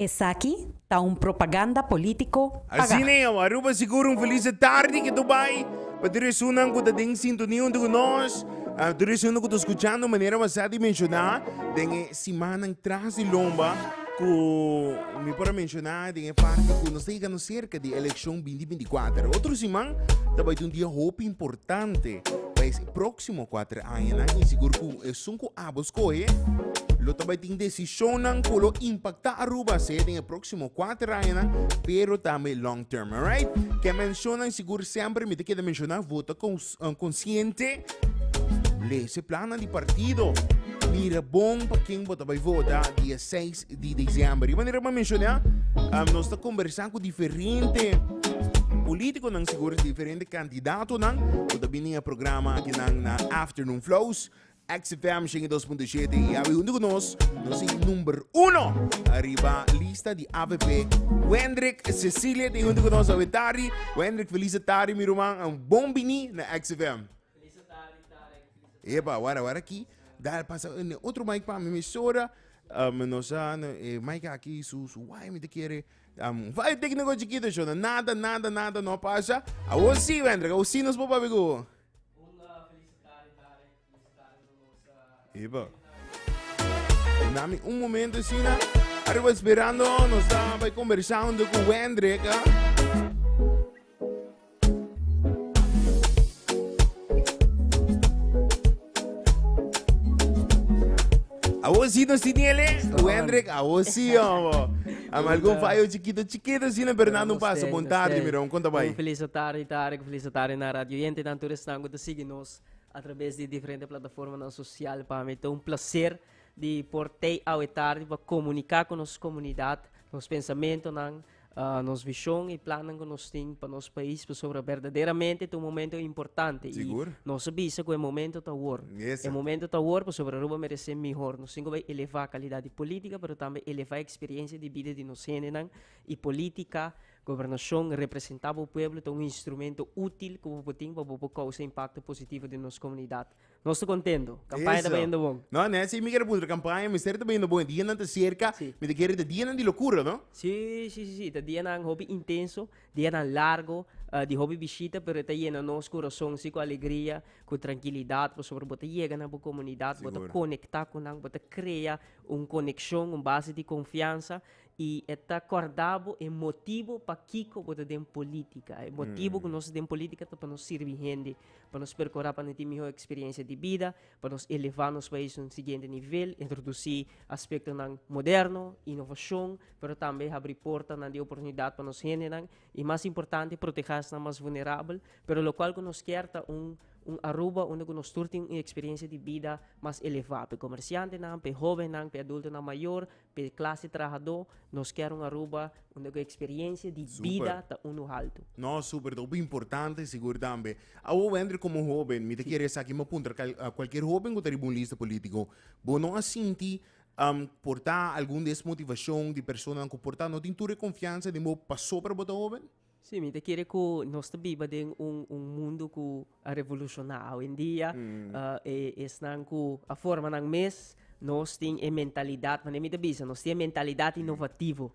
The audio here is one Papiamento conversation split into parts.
Esaki ta un propaganda politico paga. Asina awa Aruba sigur un feliz e tardi ke tur bai. Pa tur esunnan ku ta den sintonia huntu ku nos, tur esunnan ku ta skuchando manera wak sa di menshona den e. Simannan tras di lomba ku mi por a menshona den e parti ku nos ta yega nos serka di elekshon binti binti kuater. Otro siman ta bai ta un dia hopi importante pa e proksimo kuater añanan i sigur ku esun ku abo skohe lo ta bai tin desishonnan ku lo impaktá Aruba sea den e proksimo kuater añanan pero tambe long term. Alright? Ke menshonnan sigur semper mi ta keda menshona vota kon Konsiente, lees e plannan di partido, mira bon pa ken bo ta bai vota dia seis di disiember. Di manera bo menshoná, nos ta kombersá ku diferente polítikonan, segur diferente kandidatonan ku ta bini e programa akinan na Afternoon Flows. Oxfam shen i dos punto shete i awe huntu ku nos nos tin number uno ariba lista di avp Wendrick Cecilia tin huntu ku nos awe tardi Wendrick felisa tardi mi ruman and bon bini na Oxfam. Felisa tardi Tarek felisa tardi. Epa wara wara aki dal pasa ne otro mic pa mi mesora um nos a e mic aki su su waya mi ta kere um un fallo tecnico chikito shona nada nada nada no a pasa awo si Wendrick awo si nos por papia ku bo. Un felicitari Tarek y su tata por nos Eba. Ey na mi un momento asina Ariba esperando nos ta bay conversando cu Wendrick ah Awo si nos tin ele Wendrick awo si omo Ami algun fayo chikito chikito asina pero nan un paso bon tarde mi rou kon ta bay. Un felicitari Tarek Feliz atarde na radioyentenan, tur esnan ku ta sigui nos a traves di diferente plataformanan sosial. Pa mi ta un plaser di por tei awe tardi pa komuniká ku nos komunidat nos pensamentonan, ah, nos vishon i plannan ku nos tin pa nos pais, pasobra berdaderamente ta un momento importante i Sigur. nos a bisa ku e momento ta awor. Mesa. E momento ta awor pasobra Aruba merese mihor. Nos tin ku bai elevá kalidat di polítika, pero tambe elevá e eksperiencia di bida di nos hendenan i polítika. Gobernashon representá bo pueblo ta un instrumento útil ku bo por tin pa bo por kousa impakto positivo den nos komunidat. Nos ta kontento! Kampaña ta bayendo bon. No, no esei mi kere puntra. Kampaña mester ta bayendo bon. E dianan ta serka. Si. Mi ta kere ta dianan di lokura, no? Si, si, si, si. Ta dianan hopi intenso, dianan largu, di hopi bishita, pero e ta yena nos kurason así ku alegria, ku trankilidat, pasobra bo ta yega na bo komunidat, bo ta konektá ku nan, bo ta krea un konekshon, un base di konfiansa. i e ta kòrda bo e motibu pakiko bo ta den polítika. E motibu ku nos ta den polítika ta pa nos sirbi hende, pa nos perkorá pa nan tin mihó eksperiensia di bida, pa nos elevá nos pais na un siguiente nivel, introdusí aspektonan moderno, inovashon, pero tambe habrí portanan di oportunidat pa nos hendenan i mas importante protehá esnan mas vulnerabel, pero lokual ku nos kier ta un un Aruba unda ku nos tur tin un eksperiensia di bida mas elevá, p'e komersiantenan, p'e hóbennan, p'e adultonan mayor, Pa e klase trahadó nos kier un Aruba unda ku e eksperiencia di bida ta unu haltu. No, super, ta hopi importante sigur tambe. Awo Wender komo hoben, mi ta kere esaki mi a puntra a kualkier hoben ku ta riba un lista politiko, bo no a sinti por ta algun desmotivashon di personanan ku por ta no tin tur e konfiansa den bo pasobra bo ta hoben? Sí, mi ta kere ku nos ta biba den un un mundu ku a revolushoná awendia. E esnan ku a forma nan mes, nos tin e mentalidat, manera mi ta bisa, nos tin e mentalidat inovativo.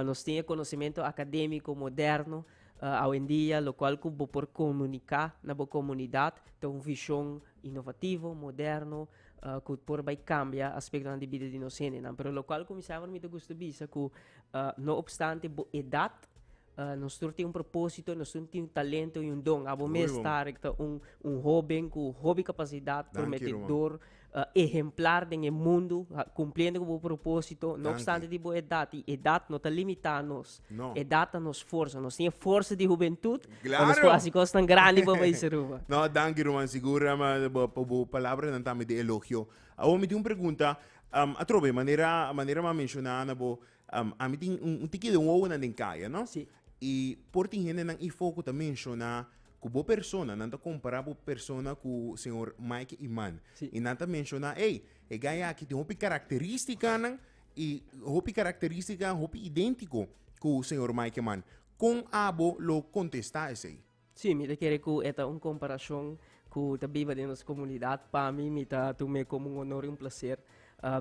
nos tin e konosementu akadémiko moderno awendia, lokual ku bo por komuniká na bo komunidat ta un vishon inovativo, moderno, ku por bai kambia aspektonan di bida di nos hendenan. Pero lokual ku mi sa ahora mi ta gusta bisa ku no opstante bo edat nos tur tin un propósito, nos tur tin un talento i un don. Abo mes Tarek ta un un hoben ku hopi kapasidat, prometedor, ehemplar den e mundu, kumpliendo ku bo propósito, no opstante di bo edat. I edat no ta limitá nos. No. Edad ta nos forza. Nos tin e forza di hubentut. Claro. Nos por hasi cosnan grandi pa país Aruba. No, danki Ruman. Sigur pa bo palabranan tambe di elogio. Awor mi tin un pregunta. Um, atrobe, manera, manera mi a menciona na bo, um, ami tin un, un tiki de wowonan den kaya, no? Sí. Y por tin hendenan i fo ku ta menciona ku bo persona, nan ta kompara bo persona ku señor Mike Iman. Sí. Y nan ta menciona, ey, e guy aki tin hopi karakterístikanan y hopi característica hopi idéntico cu señor Mikeman. Con abo lo contesta esey? Sí, mi ta kere ku e ta un komparacion ku ta biba den nos komunidat. Pa mi, mi ta tum'é komo un honor i un placer.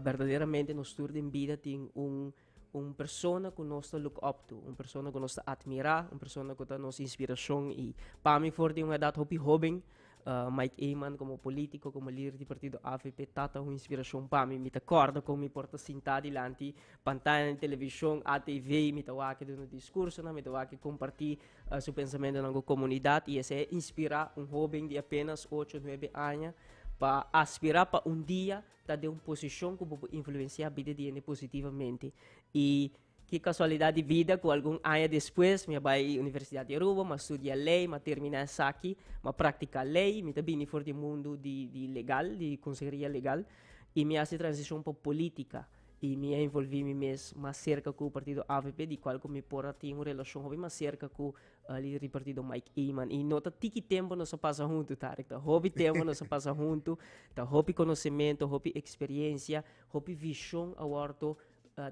Berdaderamente nos tur den bida tin un un persona ku nos ta look up to, un persona ku nos ta atmirá, un persona ku ta nos inspiracion. I pa mi for di un edat hopi hóben Mike Eman komo polítiko, komo lider di partido avp ta ta un inspirashon pa mi. Mi ta kòrda kon mi por ta sintá dilanti pantaya di televishon, ATV, i mi ta wak e duna diskursonan, mi ta wak e kompartí su pensamentonan ku komunidat i esei a inspirá un hóben di apénas ocho, nuebe aña pa aspirá pa un dia ta den un posishon ku bo por influensiá bida di hende positivamente. I. Ki kasualidat di bida ku algun aña despues mi a bai Universidat di Aruba, mi a studia lei, mi a terminá esaki, mi a praktiká lei, mi ta bini for di mundu di di legal, di konseheria legal, i mi a hasi transishon pa polítika i mi a envolví mi mes mas serka ku partido avp di kual ku mi por a tin un relashon hopi mas serka ku líder di partido Maik Eman i no ta tiki tempu nos a pasa huntu Tarek, ta hopi tempu nos a pasa huntu, ta hopi konosementu, hopi eksperiencia, hopi vishon a wòrdu.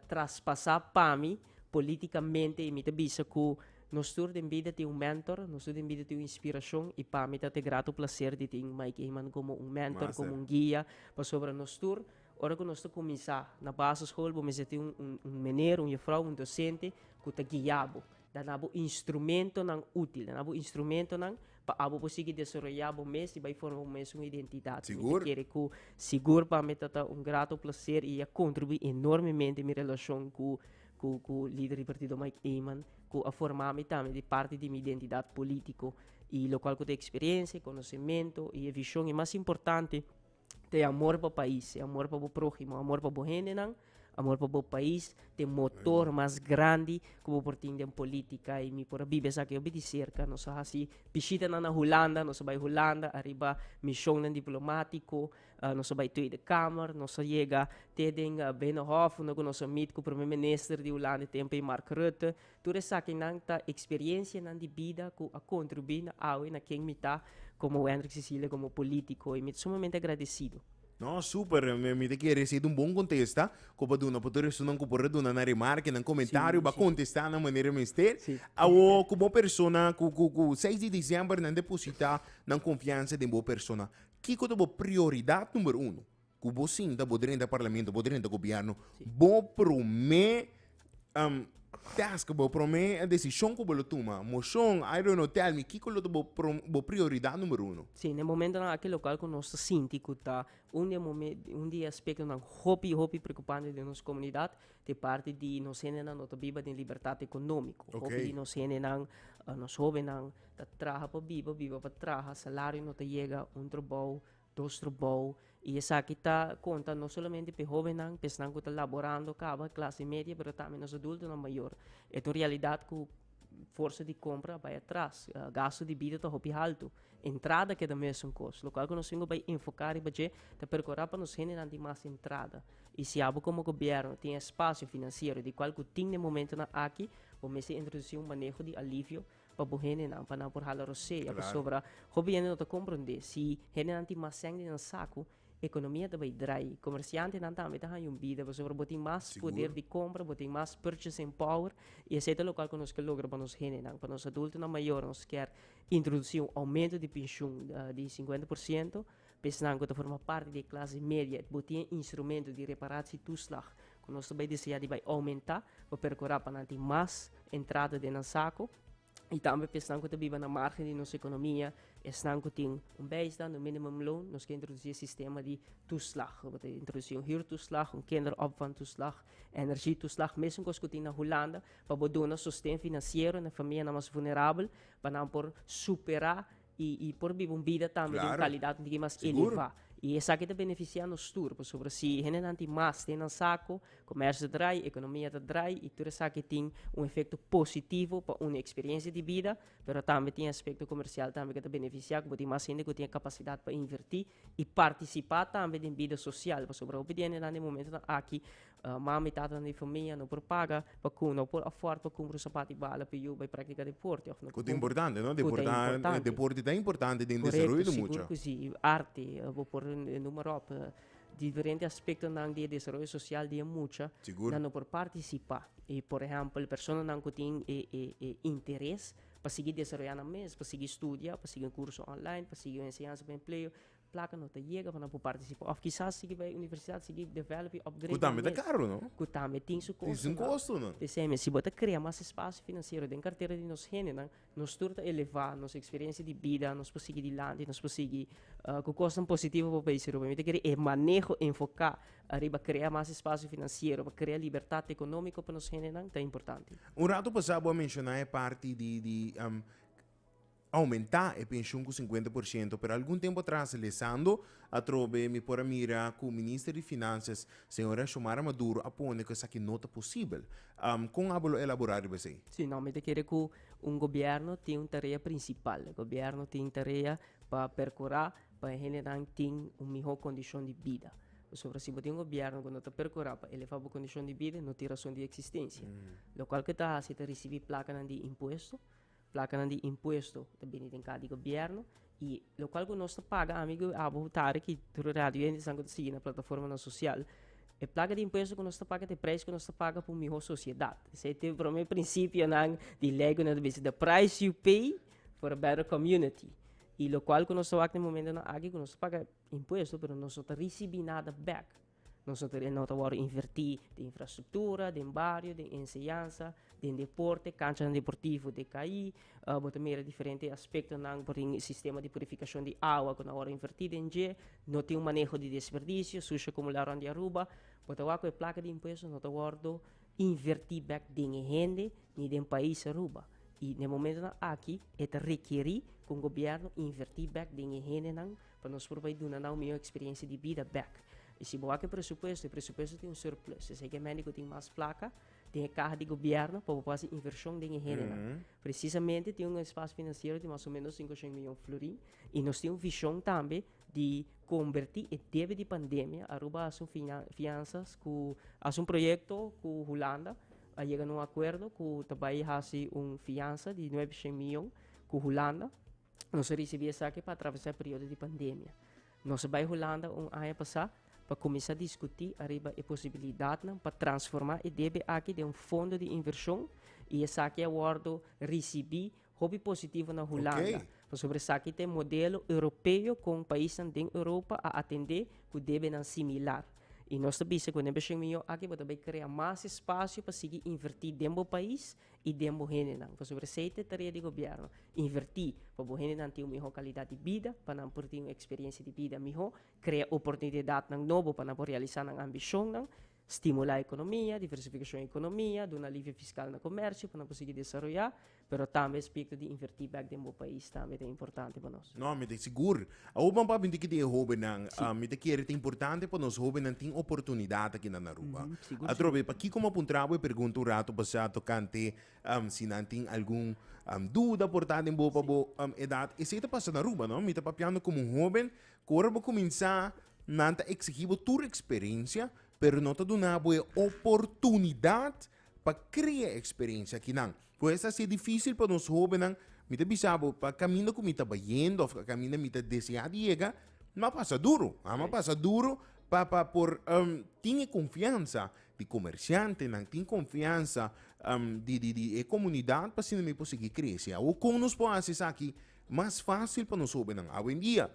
traspasá pami polítikamente i mi ta bisa ku nos tur den bida tin un mentor, nos tur den bida tin un inspirashon i pami ta te gratu plaser di tin Mike Eman komo un mentor, komo un guia, pasobra nos tur ora ku nos ta kuminsá na baseskol bo mester tin un meneer, un yefrouw, un dosente ku ta guia bo. Dana bo instrumentonan útil, dana bo instrumentonan pa abo por sigui desaroyá bo mes i bai forma bo mes un identidat. Mi ta kere ku sigur pa mi tata un grato plaser i a kontribuí enormemente mi relashon ku ku lider di partido Mike Eman ku a forma mi tambe di parti di mi identidat polítiko i lokual ku ta eksperensia, konosementu i e vishon i mas importante Te amor pa pais, e amor pa bo próhimo, amor pa bo hendenan, amor pa bo pais, te motor mas grandi ku bo por tin den polítika. I mi por a biba esaki hopi di serka. Nos a hasi bishitanan na Hulanda, nos a bai Hulanda ariba mishonnan diplomátiko, nos a bai Tweede Kamer, nos a yega te den Binnenhof unda ku nos a meet ku Prome Minister di Hulanda di tempu ei, Mark Rutte. Tur esakinan ta eksperiencianan di bida ku a kontribui na awe na ken mi ta komo Wendrick Cecilia komo politiko i mi ta sumamente agradesido. No, super, mi ta kere si e ta un bon kontesta ku pa duna pa tur esunnan ku por a duna nan remarke, nan komentario, bo a kontesta nan manera mester. Awo ku bo persona ku ku seis di diciember nan deposita nan konfiansa den bo persona, kiko ta bo prioridat number uno? Ku bo sinta, bo drenta parlamento, bo drenta gobièrnu, bo promé task, bo promé desishon ku bo lo tuma, moshon, I don't know, tèl mi, kiko lo ta bo bo prioridat numero uno? Sí, den momentonan aki lokal ku nos ta sinti ku ta un di e momen un di e aspektonan hopi, hopi preokupante den nos komunidat ta e parti di nos hendenan lo ta biba den libertat ekonómiko. Ok. Hopi di nos hendenan, nos hóbennan ta traha pa biba, biba pa traha, salario no ta yega, un trabou. Dos trobou y esaki ta conta no solamente p'e hobennan, p'e esnan cu ta laborando caba, clase media, pero tambe nos adultonan mayor. E ta un realidad cu forsa di compra a bai atras. Gasto di bida ta hopi halto. Entrada keda mesun cos. Locual cu nos tin cu bai enfoca riba dje ta percora pa nos hendenan tin mas entrada. Y si abo como gobierno tin e espacio financiero di cual cu tin den momentonan aki bo mester introduci un maneho di alivio. pa bo hendenan pa nan por hala rosea claro. pasobra hopi hende no ta comprende si hendenan tin mas cen di nan saco economia ta bay draai comerciantenan tambe ta haya un bida pasobra bo tin mas Seguro. poder di compra bo tin mas purchasing power y esey ta locual cu nos ker logra pa nos hendenan pa nos adultonan mayornan nos kier introduci un aumento di pensioen di 50% Esnan ku ta forma parti di e klase media e bo tin e instrumento di reparatie toeslag ku nos ta bai desea di bai oumenta, bo perkura pa nan tin mas entrada den nan sako, i tambe pa esnan ku ta biba na margen di nos ekonomia, esnan ku tin un bijstand, un minimum loan, nos ke introdusi e sistema di toeslag. Bo ta introdusi un huurtoeslag, un kinderopvangtoeslag, energietoeslag, mesun kos ku tin na Hulanda, pa bo duna sosten finansiero na famianan mas vulnerabel pa nan por supera i i por biba un bida tambe den Claro. kalidat un tiki mas Sigur. elevá. I esaki ta benefisiá nos tur, pasobra si hendenan tin mas te nan sako, komèrsio ta drai, ekonomia ta drai i tur esaki tin un efekto positivo pa un eksperiensia di bida, pero tambe tin aspekto komersial tambe ke ta benefisiá ku bo tin mas hende ku tin e kapasidat pa invertí i partisipá tambe den bida sosial, pasobra hopi di hendenan den momentonan aki Mama i tatanan di famia no por paga pa ku no por afòrd pa kumpra un sapat di bala pa yu bai praktiká deporte òf no por kumpra. Ku ta importante, no? Deporte, deporte ta importante den desaroyo di mucha. Korekto, sigur ku si. I arte, bo por numa ròp diferente aspektonan di e desaroyo sosial di e mucha nan no por partisipá. I por ehèmpel e personanan ku tin e e interes pa sigui desaroyá nan mes, pa sigui studia, pa sigui un kurso online, pa sigui un enseñansa pa empleo, Placa no ta yega pa nan por participa of kisas sigui bay universidad sigui develop y upgrade. Cu tambe ta caro no? Cu tambe tin su costo. Tin su costo no. P'esey mes si bo ta crea mas espacio financiero den cartera di nos gentenan nos tur ta eleva nos experiencia di bida nos por sigui dilanti nos por sigui cu cosnan positivo pa bay Suruba. Mi ta kere e maneho enfoca ariba crea mas espacio financiero pa crea libertad economico pa nos gentenan ta importante. Un rato pasa bo a menciona e parti di di. aumentá e penshun ku sinkuenta por shento, pero algun tempu atras lesando atrobe mi por a mira ku Minister di Finansias, señora Xiomara Maduro, a pone ku esaki no ta posibel. Kon abo lo elaborá riba esei? Sí, no, mi ta kere ku un gobièrnu tin un tarea prinsipal. E gobièrnu tin tarea pa perkurá pa e hendenan tin un mihó kondishon di bida. Pasobra si bo tin un gobièrnu ku no ta perkurá pa elevá bo kondishon di bida, no tin rason di eksistensia. Lokual ke ta hasi ta risibí plakanan di impuesto, Placanan di impuesto ta bini den cara di gobierno y locual cu nos ta paga, ami cu abo tarde ki tur radio yentesan cu ta sigui na plataformanan social, e placa di impuesto cu nos ta paga ta e prijs cu nos ta paga pa un miho sociedad. Esey ta e prome principionan di ley cu nan ta bisí the price you pay for a better community y locual cu nos ta wak den momentonan aki cu nos ta paga impuesto pero nos no ta ricibi nada back. Nos ta kere no ta wòrdu invertí den infrastruktura, den bario, den enseñansa, den deporte, kanchanan deportivo te kaí. Bo ta mira diferente aspektonan por tin sistema di purifikashon di awa ku nan a wòrdu invertí den dje. No tin un maneho di desperdisio sushi akumulá rònt di Aruba. Bo ta wak ku e plaka di impuesto no ta wòrdu invertí bèk den e hende ni den pais Aruba. I den momentunan aki e ta rekerí ku gobiernu invertí bèk den e hendenan Pa nos por bai duna nau mihó eksperiencia di bida bek. I si bo hak e presupuesto, e presupuesto tin un surplus. Esei ku e mende ku tin mas plaka tin e kaha di gobièrnu pa bo por hasi invershon den e hendenan. Presisamente tin un espasio finansiero di mas o ménos sinku shen miyon florin i nos tin un vishon tambe di kombertí e debe di pandemia. Aruba a hasi un finan fiansas ku a hasi un proyekto ku Hulanda. A yega na un akuerdo ku ta bai hasi un fiansa di nuebe shen miyon ku Hulanda. Nos a risibí esaki pa atravesá e periodo di pandemia. Nos a bai Hulanda un aña pasá pa kuminsá diskutí ariba e posibilidatnan pa transformá e debe aki den un fondo di invershon i esaki a wòrdu risibí hopi positivo na Hulanda. Oké. Pasobra esaki ta e modelo europeo kon paisnan den Europa a atendé ku debenan similar. I nos ta bisa ku den Bashing Mihó aki bo ta bai krea mas espasio pa sigui invertí den bo pais y den bo hendenan, pasobra esey ta e tarea di Gobierno, inverti pa bo hendenan tin un miho calidad di bida, pa nan por tin un experiencia di bida miho, crea oportunidadnan nobo pa nan por realisa nan ambicionnan, stimula economia, diversificacion economia, duna alivio fiscal na comercio pa nan por sigui desaroya, pero tambe aspecto di inverti bek den bo pais tambe ta importante pa nos. No, mi ta sigur. Awor pan papi tin ki tin e hobennan, mi ta kere ta importante pa nos hobennan tin oportunidat aki na Aruba. Atrobe, pakiko mi a puntra bo e pergunta un ratu pasá tokante si nan tin algun duda por ta den bopa bo edat? Esei ta pasa na Aruba, no? Mi ta papiando komo un hoben ku ora bo kuminsá nan ta eksigí bo tur eksperensia, pero no ta duna bo e oportunidat pa krea eksperensia aki nan. Pues a ser dificil pa nos hobennan, mi ta bisa bo pa caminda cu mi ta bayendo of caminda mi ta desea di yega, mi a pasa duro, a mi a pasa duro pa pa por tin e confiansa di comerciantenan, tin confiansa di di di e comunidad pa asina mi por sigui crece. Awor con nos por haci esaki mas facil pa nos hobennan? Awendia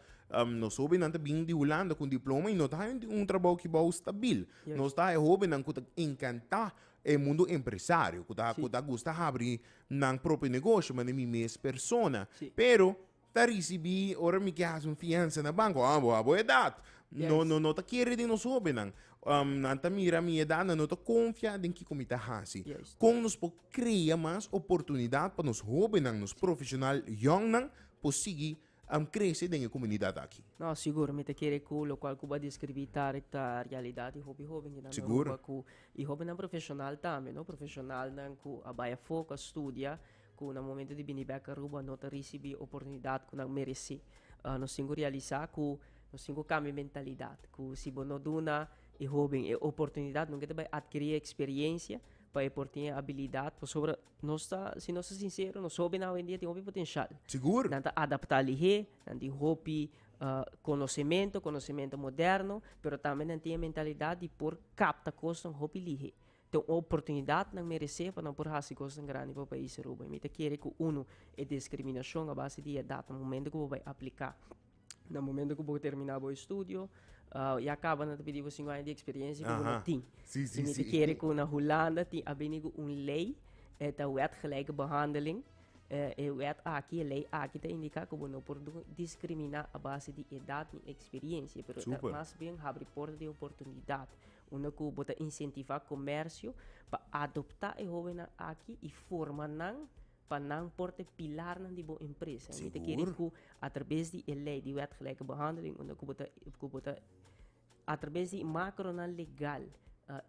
nos hobennan ta bini di Hulanda con diploma y no ta haña un trabou ki bou stabil, nos ta haña hobennan cu ta encanta E mundo empresario ku ta ku ta gusta habri nan propio negoshi mane mi mes persona pero ta risibi ora mi ke hasi un fiansa na banko a bo a bo edat no no no ta kere den nos hobennan nan ta mira mi edat nan no ta konfia den kiko mi ta hasi kon nos por krea mas oportunidat pa nos hobennan nos profeshonal yòn nan por sigui. Am krese den e komunidat aki. No, sigur, mi ta kere ku lokual ku bo a deskribí Tarik ta realidat. Di hopi hóbennan ta na Aruba ku i hóbennan profeshonal tambe, no. Profeshonalnan ku a bai afó, ku a studia, ku na momentu di bini bèk Aruba no ta risibí oportunidat ku nan meresí. Nos tin ku realisá ku nos tin ku kambia mentalidat, ku si bo no duna e hóben e oportunidat nunka e ta bai atkirí e eksperiencia pa e por tin e abilidat. Pasobra Nos ta, si nos ta sincero, nos hopi nan awendia tin hopi potencial. Sigur. Nan ta adapta lihé, nan tin hopi conocemento, conocemento moderno, pero tambe nan tin e mentalidad di por capta cosnan hopi lihé. Ta un oportunidad nan merecé pa nan por haci cosnan grandi pa Pais Aruba. I mi ta kere cu, uno, e discriminacion a base di edad, momento cu bo bay aplica na momento ku bo terminá bo estudio, uh, ya kaba na ta pidi bo sinku aña di eksperiencia ku bo no tin. Sí, sí, sí. kere ku na Hulanda tin a bini ku un lei, e ta wet gelijke behandeling. Eh, e wet aki, e lei aki ta indiká ku bo no por diskriminá a base di edat ni eksperiencia, pero ta mas bien habri porta di oportunidat, unda ku bo ta insentivá komersio pa adoptá e hóbennan aki i forma nan pa nan por ta e pilarnan di bo empresa. Mi ta kere ku a traves di e lei di wet gelijke behandeling unda ku bo ta ku bo ta a traves di makronan legal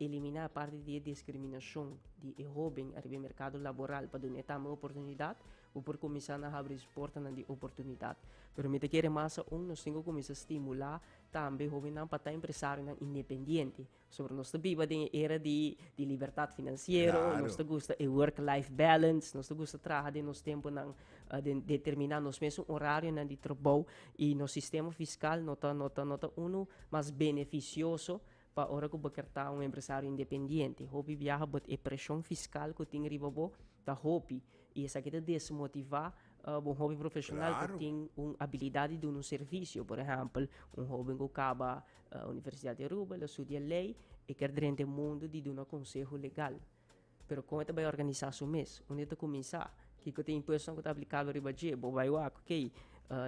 eliminá parti di e diskriminashon di e hóben ariba e merkado laboral pa dun'é tambe oportunidat, bo por kuminsá na habri su portanan di oportunidat. Pero mi ta kere mas aun nos tin ku kuminsá stimulá tambe hóbennan pa ta empresarionan independiente. Sobra nos ta biba den e era di libertat finansiero, nos ta gusta e work life balance, nos ta gusta traha den nos temponan, den determiná nos mesun orarionan di trabou i nos sistema fiskal no ta no ta no ta unu mas benefisioso pa ora ku bo kier ta un empresario independiente. Hopi biaha but e preshon fiskal ku tin riba bo ta hopi i esaki ta desmotivá bon hopi profeshonal ku tin un abilidat di duna un servisio. Por ehèmpel, un hóben ku kaba Universidad di Aruba, el a studia ley, e kier drenta e mundo di duna conseho legal. Pero con e ta bai organisa su mes? Unda e ta cuminsa? Kico ta e impuestonan cu ta aplicabel riba dje? Bo bai wak, ok,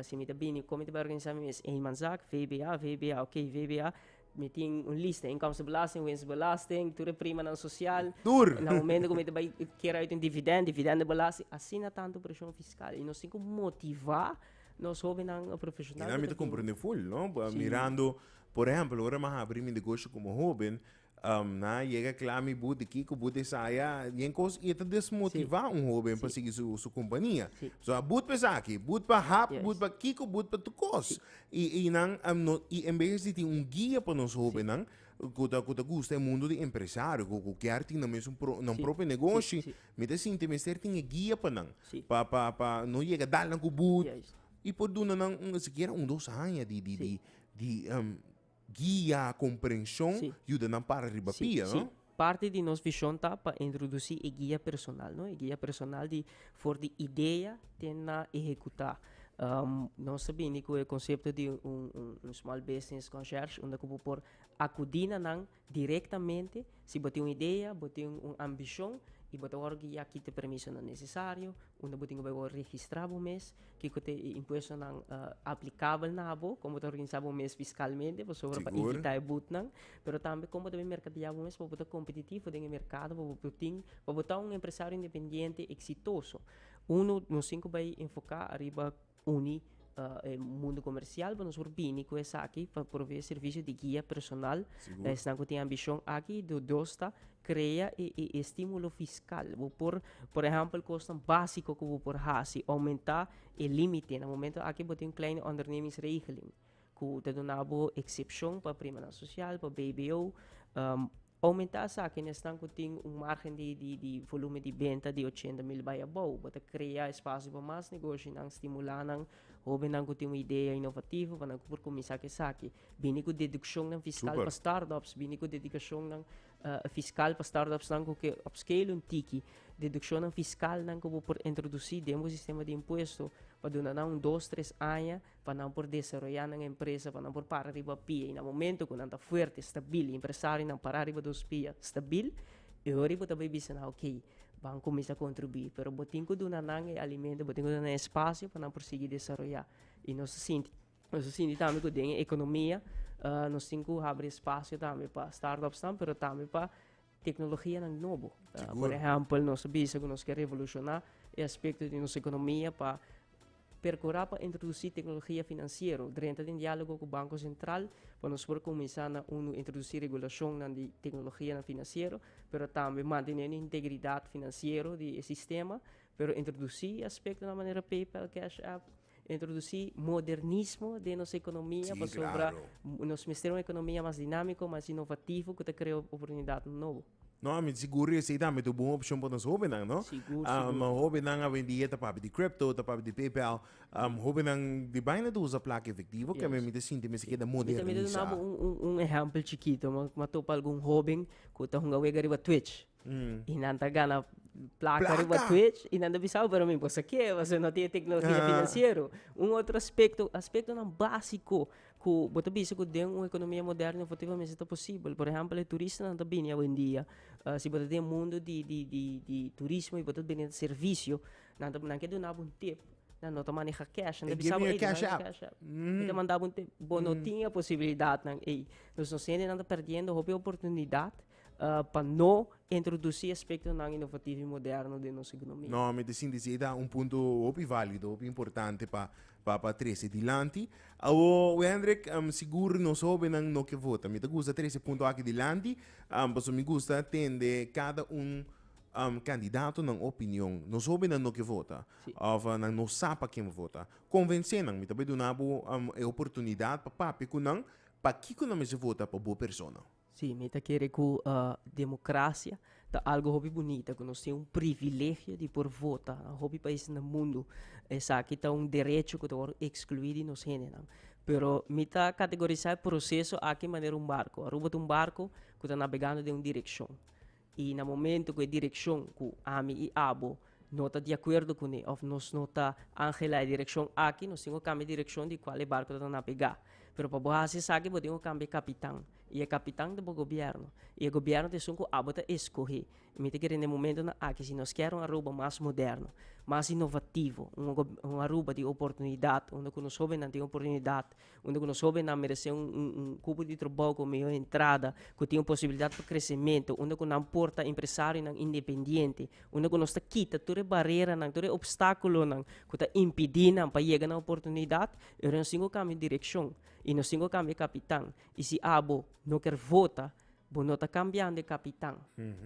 si mi ta bini, con mi ta bai organisa mi mes? Eenmanszaak, VBA, VBA, ok, VBA, mi tin un lista, inkomstenbelasting, winstbelasting, tur e primanan social, na momento cu mi ta bai kier uit un dividend, dividendobelasting, asina tanto presion fiscal, y nos tin cu motiva. Nos hobennan profesional. Kina mi ta comprende full no mirando por ehempel ora mi a habri mi negoshi como hoben nan a yega cla mi bo di kico bo di esaya yen cos y e ta desmotiva un hoben pa sigui su compania so a but pa esaki but pa hap but pa kico but pa tur cos y nan y en bes di tin un guia pa nos hobennan cu ta gusta e mundo di empresario cu kier tin nan mesun nan propio negoshi. Mi ta sinti mester tin e guia pa nan pa pa pa no yega dal nan ku but i por duna nan un sikiera un dos aña di di di di guia komprenshon yuda nan para riba pia no. Si parti di nos vishon ta pa introdusí e guia personal no e guia personal di for di idea te na ehekutá nos ta bini ku e konsepto di un un un small business concierge unda ku bo por akudí na nan. Direktamente, si bo tin un idea, bo tin un ambishon i bo ta wòrdu guiá kit e permisonan nesesario, unda bo tin ku bai wòrdu registrá bo mes, kiko ta e impuestonan aplikabel na abo, kon bo ta organisá bo mes fiskalmente pasobra pa evitá e butnan, pero tambe kon bo ta bai merkadiá bo mes pa bo ta kompetitivo den e merkado pa bo tin pa bo ta un empresario independiente eksitoso. Uno nos tin ku bai enfoká ariba. Uni e mundo comercial pa nos por bini cu esaki pa provee servicio di guia personal pa esnan cu tin ambicion aki. Lo dos ta crea e stimulo fiscal. Bo por, por ehempel, cosnan basico cu bo por haci, aumenta e limite. Na momento aki bo tin kleine ondernemingsregeling cu ta duna bo excepcion pa primanan social, pa bbo. Pa omentá esaki, na esnan ku tin un márgen di volúmen di benta di ochenta mil bai abou, bo ta krea espasio pa mas negoshinan, stimulá nan, hóbennan ku tin un idea inovativo pa nan ku por kuminsá ku esaki, bini ku dedukshonnan fiskal pa start-ups, bini ku dedukashonnan fiskal pa start-upsnan ku ke upscale un tiki, dedukshonnan fiskalnan ku bo por introdusí den bo sistema di impuesto pa duna nan un dos tres aña. pa nan por desaroyá nan empresa, pa nan por para riba pia, i na momento ku nan ta fuerte, stabil, i empresarionan pará riba dos pia stabil, e hora ei bo ta bai bisa nan oke, ban kuminsá kontribuí. Pero bo tin ku duna nan e alimento, bo tin ku duna nan e spasio pa nan por sigui desaroyá. I nos ta sinti, nos ta sinti tambe ku den e ekonomia nos tin ku habri e spasio tambe pa startups nan, pero tambe pa Teknologianan nobo. Por ehèmpel, nos a bisa ku nos ke revolushoná e aspekto di nos ekonomia pa perkurá pa introdusí teknologia finansiero drenta den diálogo ku Banko Sentral pa nos por kuminsá na unu introdusí regulashonnan di teknologianan finansiero pero tambe mantené e integridat finansiero di e sistema pero introdusí e aspektonan manera PayPal, Cash App. Introduci modernismo den nos economia pasobra nos mester un economia mas dinamico, mas inovativo cu ta crea oportunidadnan nobo. No, ami ta sigur esey tambe ta un bon opcion pa nos hobennan, no? Sigur, sigur. Hobennan awendia ta papia di crypto, ta papia di PayPal. Hobennan di baina ta usa placa efectivo, ke mi ta sinti mester keda modernisá. Mi tambe ta duna bo un ehempel chikito. Mi a topa algun hoben ku ta hunga wega riba Twitch. I nan ta gana plaka riba Twitch i nan ta bisa, pero mi boso ke boso no tin e teknologia finansiero. Un otro aspekto, aspektonan básiko ku bo ta bisa ku den un ekonomia moderno efektivamente ta posibel. Por ehèmpel e turistanan ta bini awendia. Si bo ta den e mundu di di di turismo i bo ta bini servisio, nan ta nan ke duna bo un tip, nan no ta maneha cash, nan ta bisa bo ey dunami e cash app. Mi ta manda bo un tip. Bo no tin e posibilidatnan ei. Nos no sende nan ta perdiendo hopi oportunidat pa no introduci aspectonan inovativo y moderno den nos economia. No, mi ta sinti si ei ta un punto hopi valido, hopi importante pa pa trece dilanti. Awor Hendrik, sigur nos hobennan no ke vota. Mi ta gusta trece punto aki dilanti, paso mi gusta tende cada un candidatonan opinion. Nos hobennan no ke vota, of nan no sa pa ken bo vota. Convence nan, mi ta bay duna bo e oportunidad pa papia cu nan, pakico nan mester vota pa bo persona. Sí, mi ta kere ku demokrasia ta algu hopi bunita, ku nos tin un privilegio di por vota. Na hopi pais na mundu esaki ta un derecho ku ta wòrdu ekskluí di nos hendenan. Pero mi ta kategorisá e proseso aki manera un barku. Aruba ta un barku ku ta nabegando den un direkshon. I na momento ku e direkshon ku ami i abo no ta di akuerdo kuné òf nos no ta anhelá e direkshon aki, nos tin ku kambia e direkshon di kual e barku ta nabegá. Pero pa bo hasi esaki bo tin ku kambia e kapitan. I e kapitan ta bo gobièrnu. I e gobièrnu ta esun ku abo ta eskohé. Mi ta kere na e momentunan aki si nos kier un Aruba mas moderno, mas inovativo, un Aruba di oportunidat, unda ku nos hóbennan tin oportunidat unda ku nos hóbennan meresé un un kupu di trabou ku mihó entrada ku tin un posibilidat pa kresementu unda ku nan por ta empresarionan independiente unda ku nos ta kita tur e bareranan tur e opstákulonan ku ta impidí nan pa yega na oportunidat e hora nos tin ku kambia direkshon i nos tin ku kambia e kapitan i si abo no ker vota bo no ta kambiando e kapitan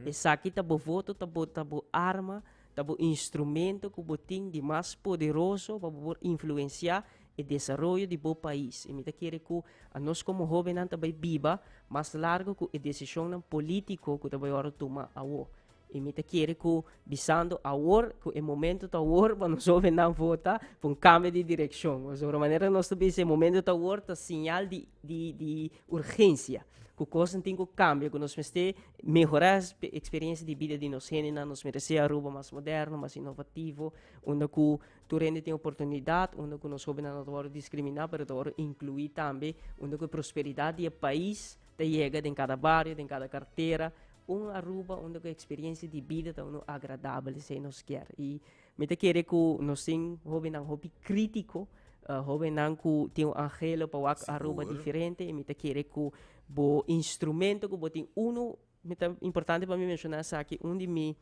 esaki ta bo voto ta bo ta bo arma ta bo instrumento ku bo tin di mas poderoso pa bo por influensiá e desaroyo di bo pais. Y mi ta kere cu anos como hobennan ta bay biba mas largo cu e decisionnan politico cu ta bay ora tuma awo. Y mi ta kere cu bisando awor cu e momento ta awor pa nos hobennan vota pa un cambio di direccion. Pues ora manera nos ta bisa e momento ta awor ta señal di di di urgencia cu cosnan tin cu cambia cu nos mester mehora e experiencia di bida di nos hendenan. Nos mester haci Aruba mas moderno, mas inovativo unda cu. Tur hende tin oportunidat unda ku nos hobennan no ta wòrdu diskriminá pero ta wòrdu inkluí tambe, unda ku e prosperidat di e pais ta yega den kada bario, den kada kartera, un Aruba unda ku e eksperiensia di bida ta unu agradabel, esei nos kier. I mi ta kere ku nos tin hobennan hopi krítiko, hobennan ku tin un anhelo pa wak Aruba diferente i mi ta kere ku bo instrumento ku bo tin unu. Mi ta importante pa mi menshona esaki, un di mi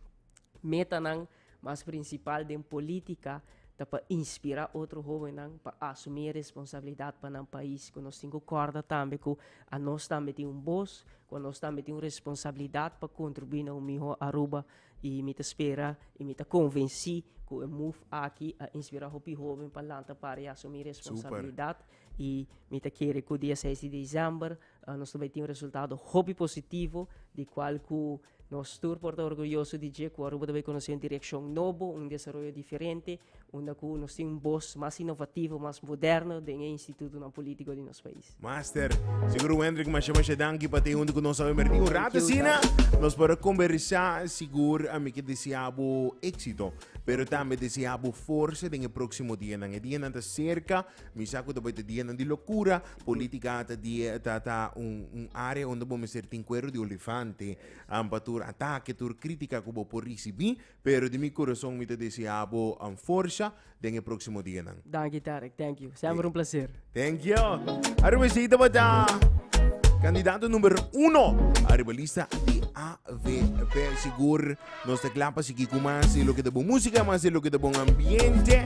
metanan mas prinsipal den polítika ta pa inspirá otro hóbennan pa asumí e responsabilidat pa nan pais. Ku nos tin ku kòrda tambe ku anos tambe tin un bos, ku anos tambe tin un responsabilidat pa kontribuí na un mihó Aruba. I mi ta spera i mi ta konvensí ku e move aki a inspirá hopi hóben pa lanta para i asumí e responsabilidat I mi ta kere ku dia seis di desèmber nos ta bai tin un resultado hopi positivo di kual ku nos tur por ta orguyoso di dje ku Aruba ta bai konosé un direkshon nobo, un desaroyo diferente unda ku nos tin un bos mas inovativo, mas moderno den e institutonan polítiko di nos pais. Master, sigur hu Hendrik masha masha danki pa ta huntu ku nos awe Merti un ratu asina nos por a kombersá sigur a mi ke desea bo éksito pero tambe desea bo forsa den e próksimo dianan e dianan ta serka Mi sa cu ta bay ta dianan di locura. Politica ta die ta ta un un area unda bo mester tin cuero di olifante am pa tur atake tur critica cu bo por ricibi pero di mi corazon mi ta desea bo forsa den e proximo dianan. Danki Tarek, thank you. Semper un placer. Thank you. Aruba esey tabata candidato number uno ariba lista di AVP. Sigur nos ta cla pa sigui cu mas di loke ta bon musica, mas di loke ta bon ambiente.